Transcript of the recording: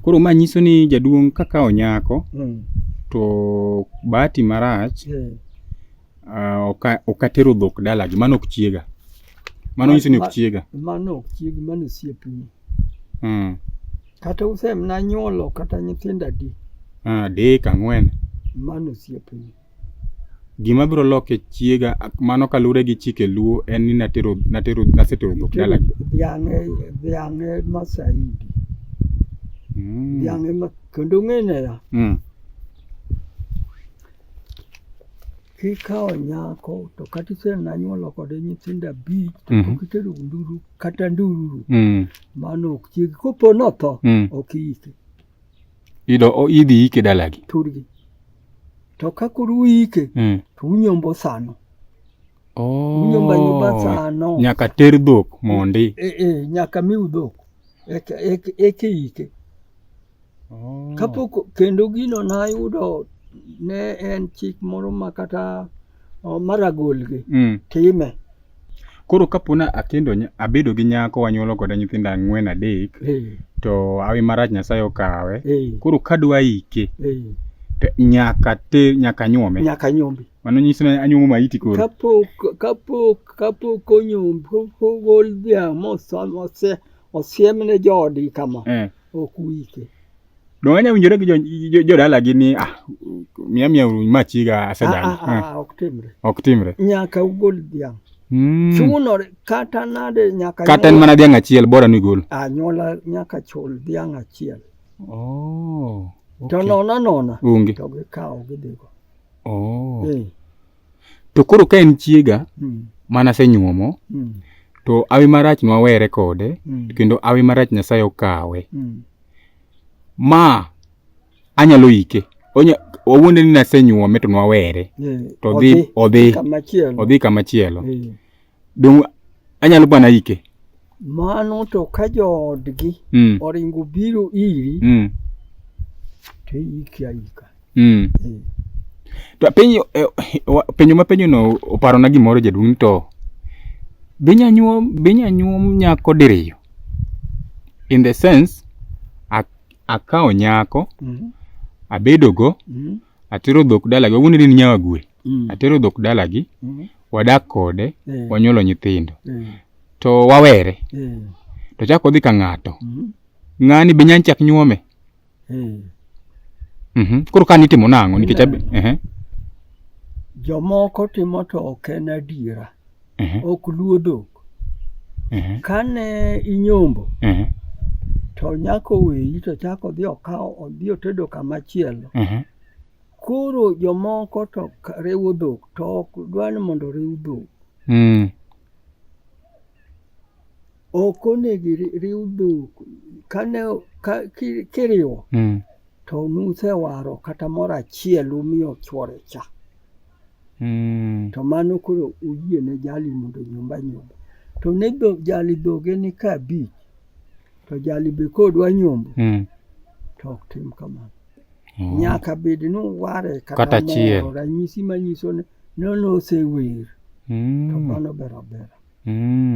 Koro ma nyiso ni jaduong' kakawo nyako mm. to bahati marach mm. uh, ok atero dhok dalagi, mano ok chiega. Mano nyiso ni ok chiega. Mano ok chiegi, mano osiepni. Mm. Kata usemna nyuolo kata nyithindo adi? Ah, adek, ang'wen. Mano osiepni. Gima biro loke chiega mano kaluwore gi chike luo en ni natero natero nasetero dhok dala. Dhiang' e dhiang' e ma saidi. Mm. Dhiang' e ma kendo ng'ene ya. Mm. Kikawo nyako to kata isenanyuolo kode nyithindo abich to mm -hmm. kitero nduru kata nduru mm. mano ok chiegi kopo notho mm. ok iyike. Ido idhi ike dalagi. Turgi. To ka kuru ike mm. to unyombo sano. Oh. Unyombo nyumba sano. Nyaka ter dhok mondi. Eh eh nyaka miu dhok. Eke eke eke ike. Oh. Kapok kendo gino na yudo ne en chik moro ma kata oh, maragolgi mm. time Koro kapo na akendo abedo gi nyako wanyuolo kode nyithindo ang'wen adek eh. to awi marach Nyasaye okawe. Eh. Koro kadwa ike eh. nyaka te nyaka nyuome. Nyaka nyuome. Mano nyiso ni anyuomo maiti koro. Kapok kapok kapok onyuom kogol dhiang' mose osiemne joodi kama. ok wike. Donge anya winjore gi jodalagi ni ah, miya miya machiga asedagi. Ah, ah, ah, ok timre. Ok timre. Nyaka ugol dhiang'. Mm. Chunore kata nade nyaka kata en mana dhiang' achiel bora ni gol. Anyuola nyaka chul dhiang' achiel. Oh. Okay. To nona nona. Onge. To gikawo gidhigo. Oh. Eh. to koro ka en chiega mm. mana senyuomo mm. to awi marach nwawere kode mm. kendo awi marach nyasaye okawe mm. ma anyalo ike onya wawuonde ni nasenyuome to nwawere yeah. to odhi odhi odhi kamachielo yeah. Donge anyalo bana ike? Mano to ka joodgi mm. oringo biro iri mm. to iiki aika. Mm. Eh. To apenyo, eh, penyo ma penyo no oparo na gimoro jaduong' to binya nyuom binya nyuom nyako diriyo in the sense akawo nyako mm -hmm. abedogo mm -hmm. atero dhok dalagi wawuond ni nyawa gwe Mm. atero dhok dalagi Mm. wadak kode Eh. wanyuolo nyithindo Eh. to wawere Eh. to chako odhi ka ng'ato Mm. ng'ani be nyany chak nyuome Eh. Mhm. koro ka nitimo nang'o nikech abe- ehe. jomoko timo to ok en adiera mhm. ok luo dhok. Mhm. Kane inyombo mhm. to nyako weyi to chako odhi okawo odhi otedo kamachielo. Koro jomoko to riwo dhok to ok dwa ni mondo oriw dhok. Mm. Ok onego iriw dhok kane kiriwo mm. to nusewaro kata moro achiel umiyo chwore cha mm. to mano koro uyie ne jali mondo nyumba nyumba to ne jali dhoge ni ka abich to jali be kodwa nyombo mm. to ok tim kamano mm. nyaka bed ni uware kata moro ranyisi manyiso ni nono osewer mm. to mano ber abera mm.